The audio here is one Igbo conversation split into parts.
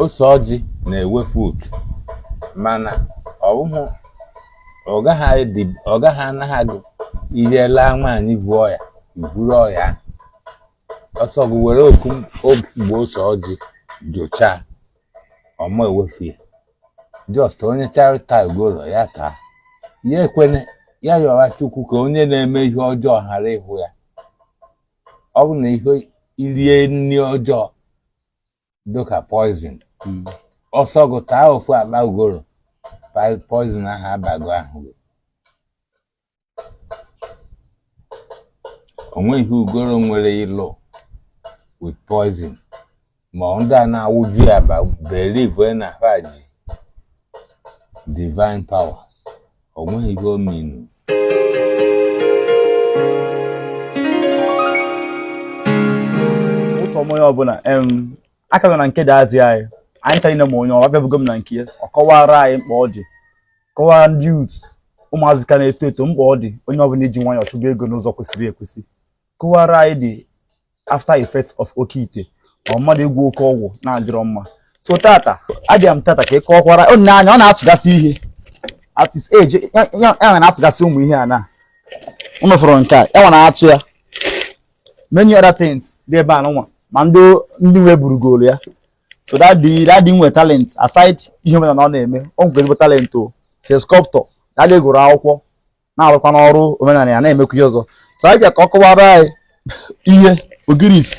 ose ọjị na-ewefu uchu mana ọ bụghị ọ gaghị adị- ọ gaghị anaghị agụ ihe laa nwaanyị vu ọya i vuru ọya ọ sọ gị were ofu ogbe ose ọjị jụchaa ọ ma ewefu ya just onye chọrọ ịta ugolo ya taa ya ekwene ya yọwa chukwu ka onye na-eme ihe ọjọọ ghara ịhụ ya ọ bụ na ihe i rie nri ọjọọ dịka poison Mm. ọ sọ gụ taa ofu akpa ugoro pa- poison ahụ abago ahụ gị o nweghị ugoro nwere ịlụ with poison ma ọ ndị a na-awụju ya ba believe na ha ji divine powers o nweghị ihe o minu ụtọ m onye ọbụla em akala na nke dị azị anyị anyị chara ine ma onye ọbịa bụgo m na nke ya ọ kọwara anyị mkpa ọ dị kọwara ndị youth ụmụazị ka na-eto eto mkpa ọ dị onye ọbụla iji nwayọọ chụba ego n'ụzọ kwesịrị ekwesị Kọwara anyị the after effects of oke ite or mmadụ ịgwọ oke ọgwụ na-adịrọ mma so tata abịa m tata ka ị kọkwara ọ na-anya ọ na-atụgasị ihe at his age ya ya- ya nwere na-atụgasị ụmụ ihe a na unu fụrụ nke a ya nwere atụ ya many other things dị ebe a nụnwa ma ndị ndị nwe burugoro ya so daddy daddy nwe talent aside ihe omenala ọ na-eme o nwere ezigbo talent as a sculptor daddy gụrụ akwụkwọ na-arụkwa n'ọrụ omenala ya na-emekwa ihe ọzọ so anyị bịa ka ọ kọwara anyị ihe ogirisi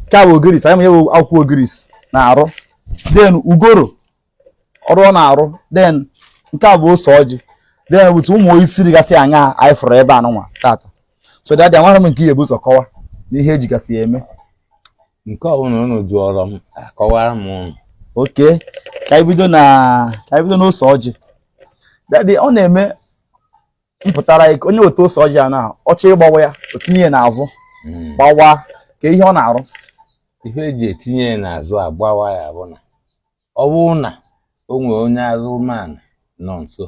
nke a bụ ogirisi anyị ma ihe bụ akwụkwọ ogirisi na-arụ then ugoro ọrụ ọ na-arụ then nke a bụ ose ọjị then otu ụmụ isi dịgasị anya anyị fụrụ ebe a nụnwa tata so daddy amarọ m nke ị ya-ebu ụzọ kọwa na ihe ejigasị ya eme nke ọbụla unu jụrụ m akọwara m unu okay ka anyị bido na ka anyị bido n'ose ọjị daddy ọ na-eme mpụtara ya ka onye weta ose ọjị a na ọ chọrọ ịgbawa ya o tinye ya n'azụ Mm. gbawa kee ihe ọ na-arụ ihe eji etinye ya n'azụ agbawa ya bụ na ọ bụrụ na o nwere onye azụmanụ nọ nso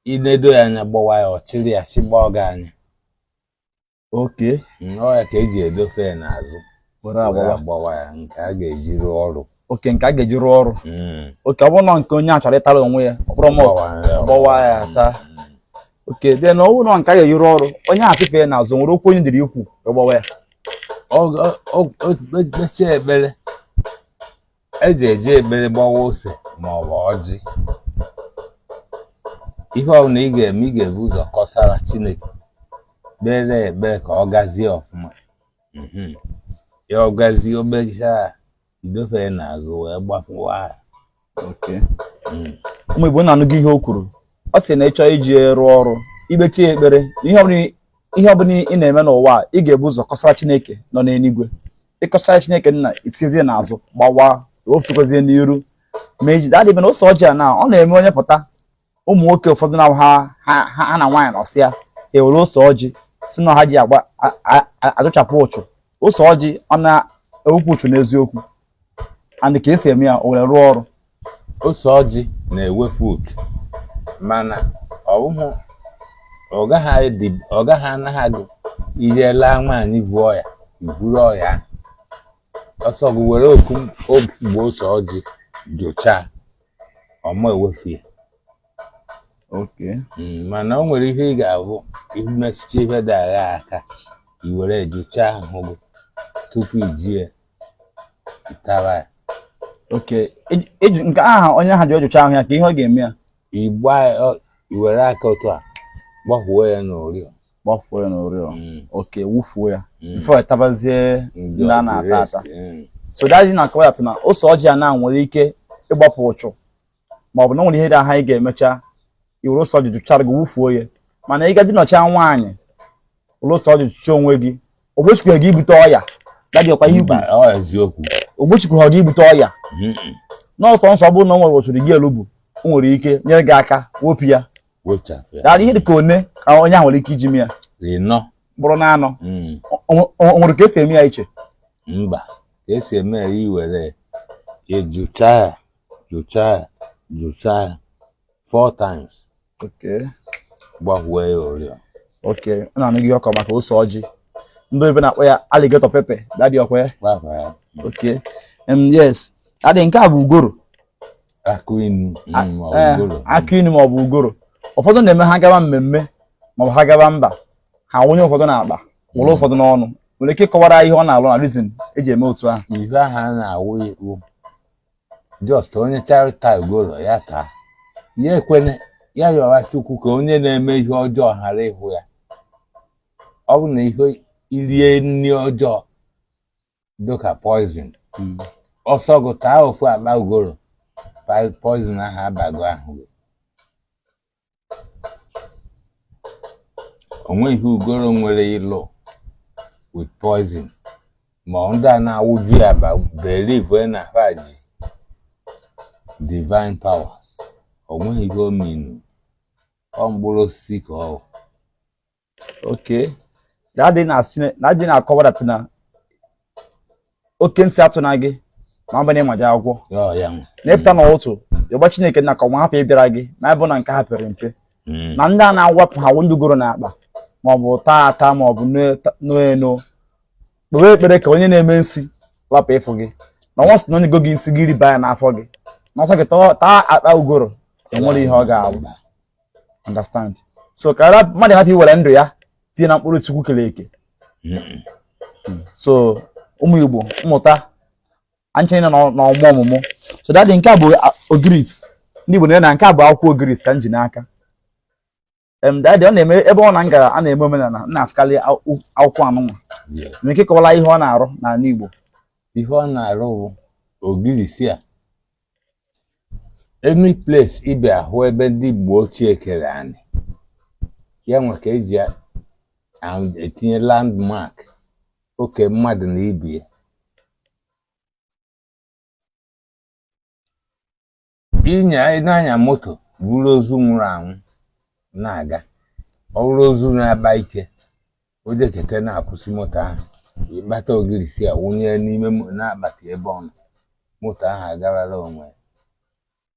i nedo ya anya gbawa ya ọ chịrị ya chịgba ọga anya okay ọ ya ka eji edofe ya n'azụ were agbawa ya nke a ga-eji rụọ ọrụ okay nke a ga-eji rụọ ọrụ hmm. okay ọ bụrụ na nke onye chọrọ ịtara onwe ya o buru gbawa ya taa okay then ọ bụ na nke a ga-eji rụọ ọrụ onye achịfe ya n'azụ nwere okwu onye dịrị ikwu gbawa ya o kpechaa ekpere eji eji ekpere gbawa ose ma ọ bụ ọjị ihe ọbụla ị ga-eme ị ga-ebu ụzọ kọsara chineke kpere ekpere ka ọ gazie ọfụma mhm. ya ọ gazie o kpechaa idofere n'azụ wee gbafuwa mm. ụmụ igbo unu anụgo ihe o kwuru ọ sị na ị chọrọ iji ya rụọ ọrụ ikpechi ya ekpere ihe ọbụla ị na-eme n'ụwa ị ga-ebu ụzọ kọsara chineke nọ n'eluigwe ị kọchaara chineke nna itiezie n'azụ gbawa ofutugozie n'iru ma eji daddy be na ose ọjị a na ọ na-eme onye pụta ụmụ nwoke ụfọdụ na ha ha na nwaanyị nọsịa e were ose ọjị sị na ha ji agba ajụchapụ uchu ose ọjị ọ na-ewepụ uchu n'eziokwu and ka esi eme ya o were rụọ ọrụ ose ọjị na-ewefu uchu mana ọ bụghị ọ gaghị edi ọ gaghị anaghị agụ i jee laa nwaanyị vu ọya i vuru ọya ahụ. ọ sọ gị were ofu ogbe ose ọjị jụchaa ọ ma ewefu ya Okay. Mm, mana o nwere ihe ị ga-abụ i metụta ihe dị aghaa aka i were jụchaa ahụ gị tupu ijie tara ya Okay. Eji- eji- Nke aha onye aha ji ọjụcha ahụ ya ka ihe ọ ga-eme ya igba ọ- i were aka otu a gbakwuo ya n'orio gbafuo ya n'oriọ. Mm, Okay, wufuo ya. mm. Before tabazie Ndị ndị a na-ata ọgwụ ata. rest, mm. So daddy na-akọwa ya tụ na ose ọjị a na o nwere ike ịgbapụ uchu ma ọ bụ na o nwere ihe dị aha ị ga-emecha i were ose ọjị jụchaa ahụ gị wufuo ya mana ị gaa dinachaa nwaanyị were ose ọjị jụchaa onwe gị ogbochikwe gị ibute ọya daddy ọkwa ihe i kwuru ogbochikwe gị ibute ọya n'ọsọ nsọ ọ bụrụ na o nwere uchu dị gị elu bụ o nwere ike nyere gị aka wepụ ya daddy ihe dị ka one ka onye ahụ nwere ike iji mee ya bụrụ na anọ hmm. o nwere ka esi eme ya iche mba ka esi eme ya i were ya jụcha ya jụchaa ya jụchaa ya four times okay gbafuo ya oriọ okay ọ na-anụ gị ọkọ maka ose ọjị ndị bekee na-akpọ ya alligator pepper daddy ọkwa ya gbafa ya okay um, yes daddy nke a bụ ugoro akụ inu A- mm, ma ọ ee, bụrụ. akụ inu maọbụ ugoro ụfọdụ na-eme ha gawa mmemme maọbụ ha gawa mba ha wụnye ụfọdụ n'akpa wụrụ ụfọdụ n'ọnụ i nwere ike ịkọwara ihe ọ na-alụ na reason eji eme otu ahụ ihe ahụ a na-awụ iwu just onye chọta ugoro ya taa ya ekwene ya yọwa chukwu ka onye na-eme ihe ọjọọ ghara ịhụ ya ọ bụ na ihe i rie nri ọjọọ dịka poison Mm. ọ sọ gị taa ofu akpa ugoro pa- poison ahụ abago ahụ gị onweghị ihe ugoro nwere ịlụ with poison ma ndị a na-awụju ya akpa believe na ha ji divine powers onweghị ihe ọ mean ọ mkpụrụ osisi ka ọ bụ okay dadị na-akọwa that na oke nsi atụna gị ma mbanye ma jee akwụkwọ na ị pụta na ụtụtụ ị gwa chineke na ka nwa hapụ ịbịara gị ma ịbụ na nke ha pere mpe hmm. na ndị a na-awapụ ha ugoro na akpa maọbụ taa ata maọbụ n'enu kpewe ekpere ka onye na-eme nsi lapụ ịfụ gị na nwa sị na e nyego gị nsi gị riba ya n'afọ gị na ọsọ gị taa akpa ugoro enwerọ ihe ọ ga-abụ understand so ka mmadụ hapụ iwere ndụ ya tinye na mkpụrụ chukwu kere eke so ụmụ igbo mụta anchịrị na ọmụ ọmụmụ so dadị nke a bụ ogirisi ndị igbo na nke a bụ akwụkwọ ogirisi ka m ji n'aka dadị ọ na-eme ebe ọbụna m gara a na-eme omenala m na-afụkarị akwụkwọ anụnwa na nke kọwara ihe ọ na-arụ n'ala igbo ihe ọ na-arụ bụ ogirisi a any place ị bịa hụ ebe ndị gboo ochie kere anị ya nwa ka eji etinye landmark oke mmadụ na ibie ịnya ị na-anya moto buru ozu nwụrụ anwụ na-aga ọ bụrụ ozu na-akpa ike o jeketa na-akwụsị moto ahụ ị kpata ogirisi a wụnye n'ime mo- n'akpati ebe ọ nọ moto ahụ agawara onwe ya.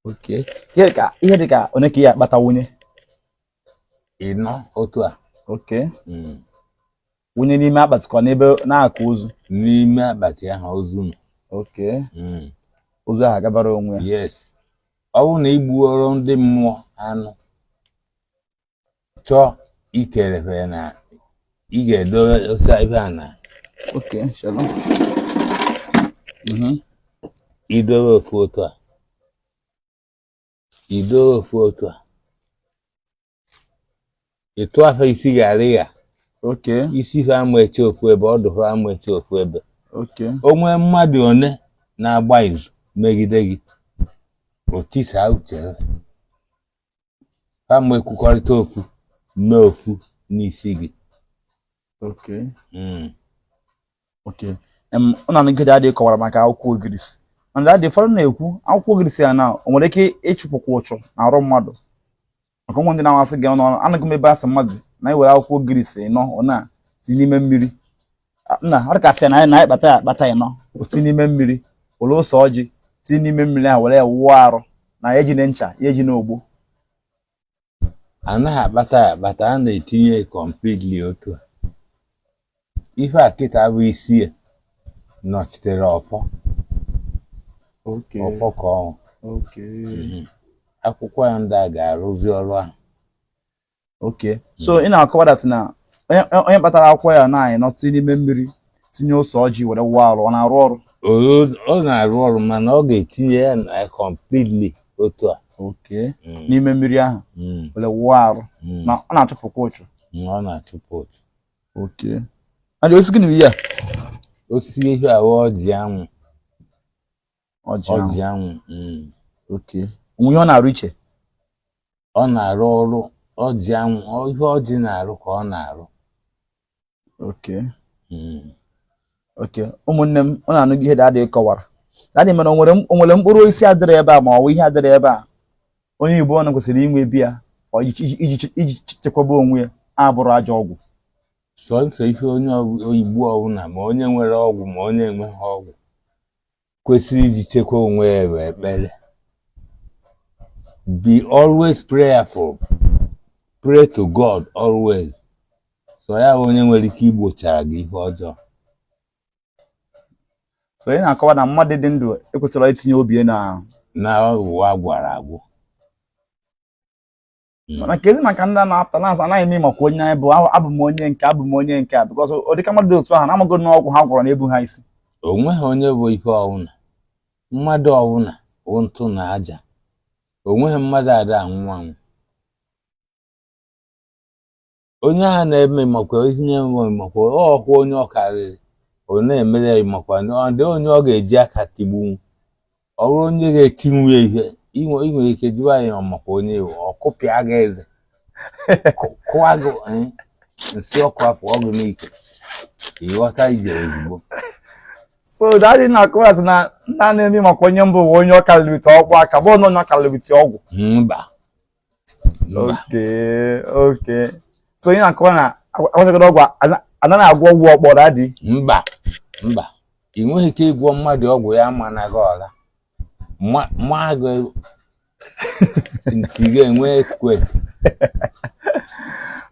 okay ihe dị ka ihe dị ka one ka ị ya-akpata wunye ịnọ otu a okay mm, wunye n'ime akpati ka ọ n'ebe n'akụkụ ozu n'ime akpati ahụ ozu nọ okay Mm, ozu ahụ agabara onwe ya yes ọ bụrụ na i gbuoro ndị mmụọ anụ chọọ ikere fa na ị ga-edosa ife a na Okay, shalom. Mhm. idowe ofu otu a idowe ofu otu a ị tụa fa isi gharịa Okay, isi fa ama eche ofu ebe ọdụ fa ama eche ofu ebe okay. o nwee mmadụ one na-agba izu megide gị o tisaa uche ha ama ekwukọrịta ofu na ofu n'isi gị okay mm. okay em unu anụ ka dadị kọwara maka akwụkwọ ogirisi and dadị fọrọ na-ekwu akwụkwọ ogirisi a na o nwere ike ịchụpụkwa ụchụ n'arụ mmadụ maka o nwe ndị na-asị gị na anụgo m ebe a sị mmadụ na i were akwụkwọ ogirisi nọ ọ na si n'ime mmiri nna ọ dịkasị na anyị kpata ya akpata ịnọ osi n'ime mmiri were ose ọjị si n'ime mmiri ahụ were ya wụọ arụ na ya ejine ncha ya ejine ogbo anaghị akpata ya akpata a na-etinye completely otu a ife a kịta bụ isi ya nọchitere ọfọ ọfọ ka ọ wụ mhm. akwụkwọ ya ndị a ga-arụzi ọrụ ahụ okay so ị na-akọwa dat na onye kpatara akwụkwọ ya naanị nọtị n'ime mmiri tinye ose ọjị were wụọ arụ ọ na-arụ ọrụ ọ na-arụ ọrụ mana ọ ga-etinye ya na completely otu a okay mm. n'ime mmiri ahụ mm. were wụọ arụ mm. na ọ na-achụpụkwa uchu ọ na-achụpụ uchu okay daddy o si gịnị ya osisi ihe ahụ ọjị anwụ ọjị anwụ okay o nwe ihe ọ na-arụ iche ọ na-arụ ọrụ ọjị anwụ ihe ọjị na-arụ ka ọ na-arụ okay hmm. okay ụmụnne m ọ na-anụ ihe daddy kọwara daddy mana o nwere mkpụrụ osisi adịrị ebe a ma ọ bụ ihe adịrị ebe a onye Igbo ọbụna kwesịrị inwe be ya iji chekwaba onwe ya abụrọ ajọ ọgwụ sọnsọ ihe onye Igbo ọbụla ma onye nwere ọgwụ ma onye enweghị ọgwụ kwesịrị iji chekwa onwe ya bụ ekpere be always prayerful pray to God always sọ ya bụ onye nwere ike igbochara gị ihe ọjọọ so ị na-akọwa na mmadụ dị ndụ ekwesịrị itinye obi ya n'ọgwụ a gwọrọ agwọ hmm. mana kezi maka ndị a na-apụta na-asị anaghị eme makwa onye anyị bụ abụ m onye nke a abụ m onye nke a because ọ dịka mmadụ dị otu ahụ na-amago na ọgwụ ha gwọrọ na-ebu ha isi o nweghị onye bụ ihe ọwụna mmadụ ọwụna wụ ntụ na aja o nweghị mmadụ ada anwụ anwụ onye ahụ na-eme makwa ihe na-enwe makwa ọkwa onye ọ karịrị ọ na-emere ya makwa ndị onye ọ ga-eji aka tigbuo ọ bụrụ onye ga-etinwu ya ihe inwe ị nwere ike jụwa ya ọ makwa onye ị wụ ọ kụpịa gị eze kụ- kụwa gị eh, nsị ọkụ afọ ọgụ n'ike ịghọta ije ozugbo so daddy ị na-akọwa na nna na-eme makwa onye m bụ bụ onye ọ kalịrịta ọgụ aka bụ onye ọ kalịrịta ọgwụ mba okay okay so ị na-akọwa na agwachagoro ọgwụ anaghị agwọ ọgwụ ọkpọ daddy mba mba ị nweghị ike ịgwọ mmadụ ọgwụ ya amana gị ọla ma gị nke ga-enwe ekwe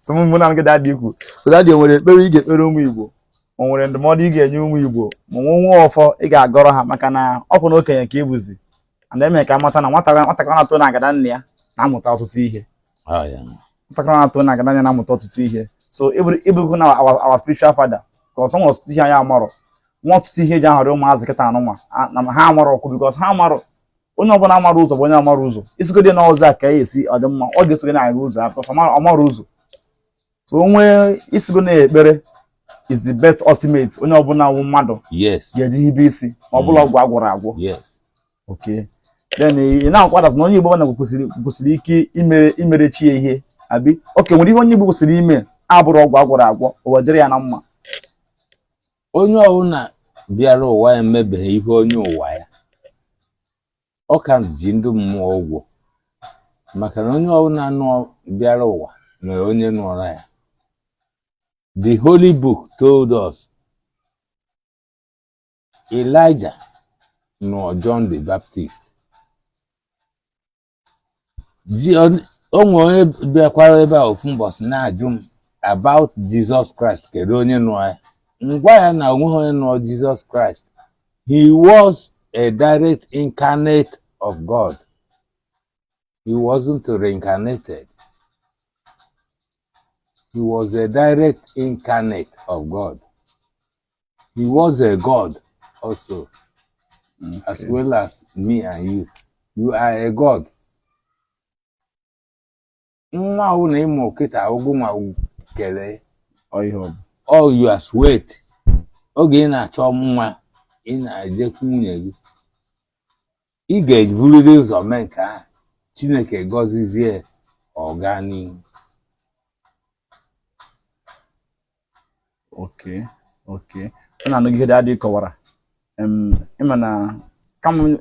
so mụ na gị dadị ikwu so daddy o nwere ekpere ị ga-ekpere ụmụ Igbo o nwere ndụmọdụ ị ga-enye ụmụ Igbo ma o nwe ọfọ ị ga-agọrọ ha maka na ọ bụ na okenye ka ị bụzi ana eme ka amata na nwatakịrị nwatakịrị na-atọ na agada nne ya na-amụta ọtụtụ ihe Ah, yeah. nwatakịrị na-atọ na agada nne ya na-amụta ọtụtụ ihe so ịbụrụ ịbụrụ na our our spiritual father bikọs o nwere ọtụtụ ihe anyị amarọ nwa ọtụtụ ihe eji ahọrọ ụmụazị kịta a nụnwa a- na ha amarọ ọkụ bikọs ha amarọ onye ọbụla amara ụzọ bụ onye amara ụzọ ị sịgodi na ụzọ a ka ya esi ọ dị mma ọ ga-esogide na-aga ụzọ ahụ because ọ mara- ọ mara ụzọ so onwe ị sịgo na ekpere is the best ultimate onye ọbụla wụ mmadụ ga-eji hibe isi ma ọ bụrọ ọgwụ agwọrọ agwọ okay then ị na-akwado na onye Igbo ọbụla kwesịrị ike imere imere chi ya ihe abi oke nwere ihe onye Igbo kwesịrị ime abụrọ ọgwụ agwọrọ agwọ ụwa adịrị ya na mma onye ọbụla bịara ụwa ya emebeghị ihe onye ụwa ya ọ ka ji ndị mmụọ ụgwọ maka na onye ọbụla nọ bịara ụwa nwere onye nọọrọ ya the holy book told us Elijah nọọ John the Baptist Ji- ọ- o nwere onye bịakwara ebe a ofu mbọsị na-ajụ m about Jizọs Kraịst kedu onye nọọ ya m gwa ya na onweghị onye nọọ Jizọs Kraịst he was a direct incarnate of God he wasn't reincarnated he was a direct incarnate of God He was a God also, okay. as well as me and you. You are a God. Nwa ahụ na ị mụ kịta wụ gị nwa kere all your sweat oge ị na-achọ nwa ị na-ejekwu nwunye gị ị ga-eburiri ụzọ mee nke ahụ Chineke agọzizie ọganihu okay okay unu anụgo ihe dadị kọwara ịma na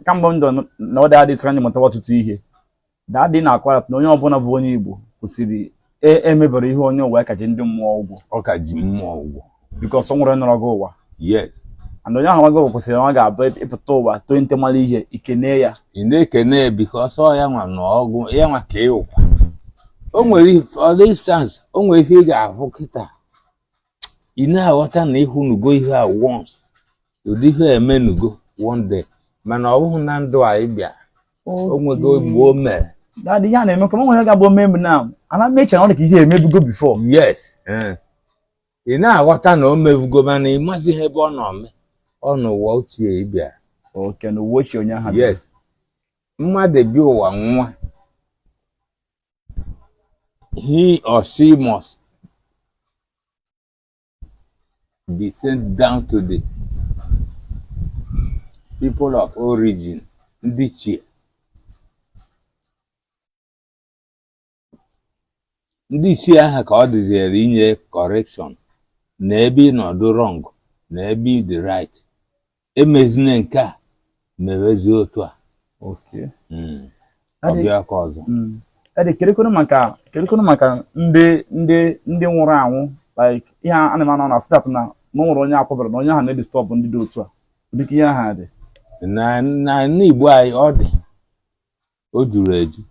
kamgbe ndụ na ọ dadị sịra anyị mụtawa ọtụtụ ihe dadị na-akọwara na onye ọbụla bụ onye Igbo kwesịrị emeberọ ihe onye ụwa ya ka ji ndị mmụọ ụgwọ ọ ka ji mmụọ ụgwọ bikọs o nwere onye nọrọ gị ụwa yes and onye ahụ nwago kwesịrị na ọ ga-abụ ị pụta ụwa too nte mara ihe ị kene ya ị na-ekene ya bikọs ọ ya nwa na ọ wụ ya nwa ka ị wụ o nwere ife- for instance o nwere ife ị ga-ahụ kịta ị na-aghọta na ị hụnugo ihe a once ụdị ihe a emenugo one day mana ọ bụghị na ndụ a ị bịa o nwego mgbe o mere dadị ihe a na-eme ka m nwere ga-abụ omemgbe na ana m eche na ọ dị ka ihe emebugo bifo yes eh. ị na-aghọta na o mevugo mana ị mazighị ebe ọ nọ mee ọ n'ụwa ochie ị bịara oke n'ụwa ochie onye ahụ bịara. yes mmadụ bi ụwa nwa he or she must be sent down to the people of origin ndị ichie ndị isi aha ka ọ dịziere inye correction na ebe ị nọdụ wrong na ebe ị dị right e mezie na nke a mewezie otu a Okay. Mm. Ọ Adị- bịa ka ọzọ Mm. Ede kerekwanụ maka kerekwanụ maka ndị ndị ndị nwụrụ anwụ like ihe a na-eme anọ na stat na na o nwere onye akwaberọ na onye ahụ na-edisturb ndị dị otu a ọ dị ka ihe ahụ dị na na n'Igbo anyị ọ dị o juru eju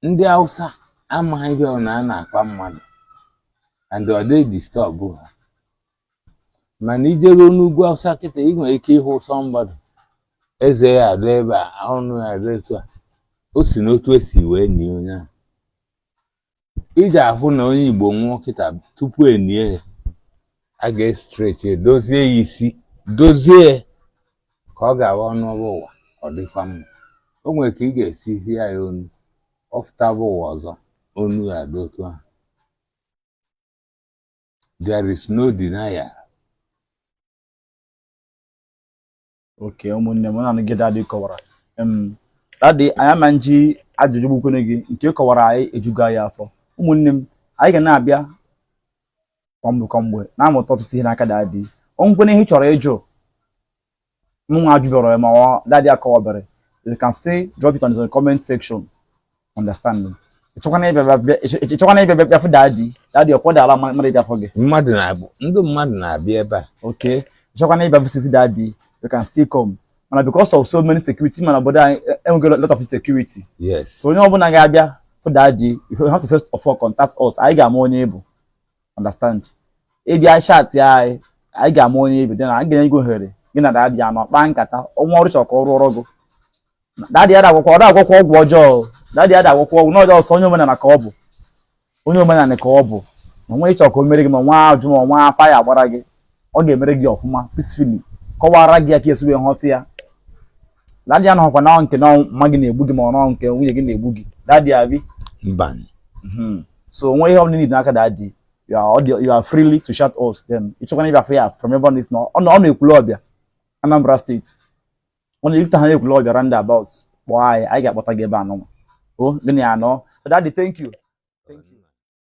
ndị Hausa amaghị ihe ọ na a na-akwa mmadụ and ọ dịghị edisturb ha mana i jeruo n'ugwu Hausa kịta ị nwere ike ịhụ somebody eze ya adọ ebe a ọnụ ya adọ etu a o si n'otu e si wee nie onye ahụ i ji ahụ na onye Igbo nwụọ kịta tupu e nie ya a ga-estretchi dozie ya isi dozie ka ọ ga-awụ ọ nọba ụwa ọ dịkwa mma o nwere ka ị ga-esi hie ya onu ọ fụtaba ụwa ọzọ onu ya dị otu ahụ there is no denial okay ụmụnne m unu anụgo ihe dadị kọwara dadị anyị ama eji ajụjụ gbukwene gị nke ị kọwaara anyị ejugo anyị afọ ụmụnne m anyị ga na-abịa kwamgbe kwamgbe na-amụta ọtụtụ ihe n'aka dadị o nwekwene ihe ị chọrọ ịjụ mụnwa ajụberọ ma dadị akọwaberọ you can still drop it on the comment section understand m ịchọkwana ịbịa bịa- bịa- ịchọ- ịchọkwana ịbịa bịa bịa fụ dadi dadi ọ kwa dara mmadụ mmadụ ịbịa fụ gị mmadụ na-abịa ndị mmadụ na-abịa ebe a okay ịchọkwana ịbịa visit dadi you can still come mana because of so many security ị ma na obodo anyị e- enweghị lot of security yes so onye ọbụla ga-abịa fụ dadi you have to first of all contact us anyị ga-ama onye ị bụ understand ị bịa chatịa anyị anyị ga-ama onye ị bụ then anyị ga-enye gị ohere gị na dadi anọ kpaa nkata o nwee ọrụ ị chọrọ ka ọ rụọrọ gị dadị ada agwọkwa ọ da agwọkwa ọgwụ ọjọọ dadị ada agwọkwa ọgwụ ọjọọ ọ sọ onye omenala ka ọ bụ onye omenala ka ọ bụ ma o nwe ihe ị chọ ka o mere gị ma nwa ajụ ma nwa afa ya agbara gị ọ ga-emere gị ọfụma peacefully kọwara gị ya ka i si wee ghọta ya dadị anọkwa na nke na mama gị na-egbu gị ma ọ nọ nke nwunye gị na-egbu gị dadị ya bi mba mhm. so o nwe ihe ọ bụla niile n'aka dadị you are audio you are freely to chat us then ịchọkwana ịbịa fụ ya from ebe ọ na-esi na ọ nọ Ekwulọbịa Anambra State unu rutehaa n'Ekwulọbịa roundabout kpọọ anyị anyị ga-akpọta gị ebe a nụnwa gị na ya anọ so daddy thank you